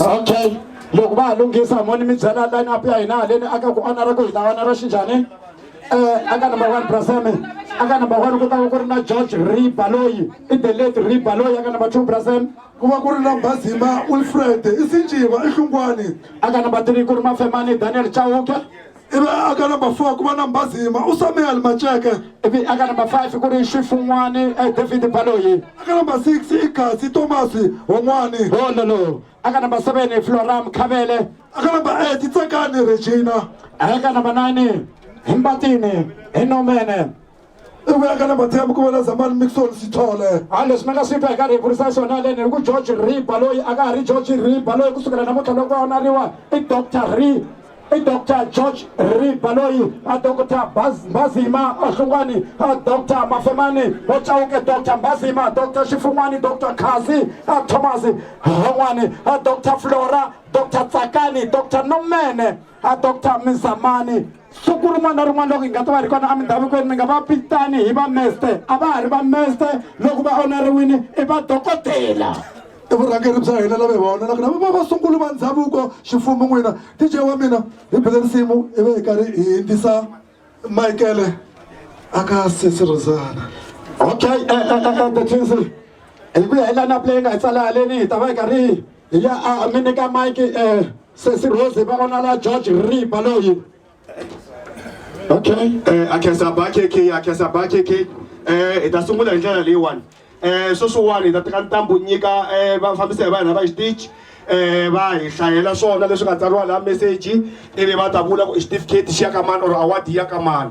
okay loko va ha lunghisa moni mi byela line up ya hina haleni aka ku onara ku hi ta onara xinjhani um aka number one braseme aka number one ku ta va ku ri na george riba loyi i the late riba loyi aka number two braseme ku va ku ri na mbazima wilfred i sinjiva i hlungwani aka number three ku ri mafemani daniel chauke ivi a ka number four ku va na mbazima u samuel maceke ivi aka number five ku ri xifun'wani eh, david baloyi a ka number six i kasi tomasi hon'wani hololo aka number seven floram khavele a ka number eight tsekani regina aka number nine hi mbatini hi nomene i ku ya ka na mathembu ku vona zamani mixon sithole ha leswi ni nga swi twa hi karhi hi vurisa swona haleni hi ku george riba loyi a ka ha ri george riba loyi ku sukela namuntlha loko a onariwa i doctor ri i doctor george riba loyi a doctor Baz- mbazima a hlungwani a doctor mafemani wo chawuke doctor mbazima doctor xifun'wani doctor khazi a thomas han'wani a doctor flora doctor tsakani doctor nomene a doctor mizamani siku rin'wana na rin'wana loko hi nga ta va ri kona emindhavukweni mi nga va pitani hi vameste a va ha ri vameste loko va oneriwini i vadokodela i vurhangeri bya hina lava hi va onelaka na va va sunguli va ndhavuko ximfumo n'wina dj wa mina hi bele risimu i ve hi karhi hi yingisa michaele aka sesi rosana okay eh, eh, eh, eh, the twins hi ku ya hi lineup leyi nga hi tsala haleni hi ta va hi karhi hi ya a mi nyika mike eh, sesi rose va vona la george ripa loyi okay eh akhesa bakhe ke akhesa bakhe ke eh hi ta sungula hi ndlela leyiwani eh sweswiwani hi ta teka ntambu nyika eh vafambisi va hina va xitichi eh va hi hlayela swona leswi nga tsariwa laha meseji ivi va ta vula ku i xitifiketi xi ya ka mani or award ya ka mani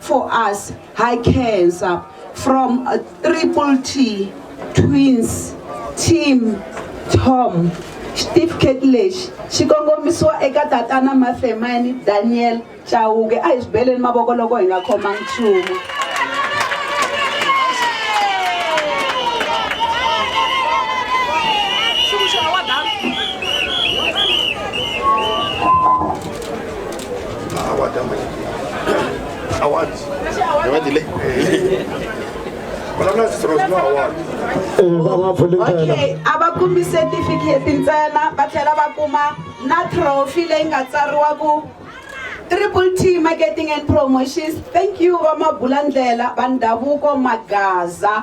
for us high cancer from a triple t twins team tom xitifiketi lexi xi kongomisiwa eka tatana mathemani daniel chawuke a hi swi beleni mavoko loko hi nga khoma nchumu okay a va kumi certificate ntsena va tlhela va kuma na trophy leyi nga tsariwa ku triple t marketing and promotions thank you vamabulandlela va ndhavuko magaza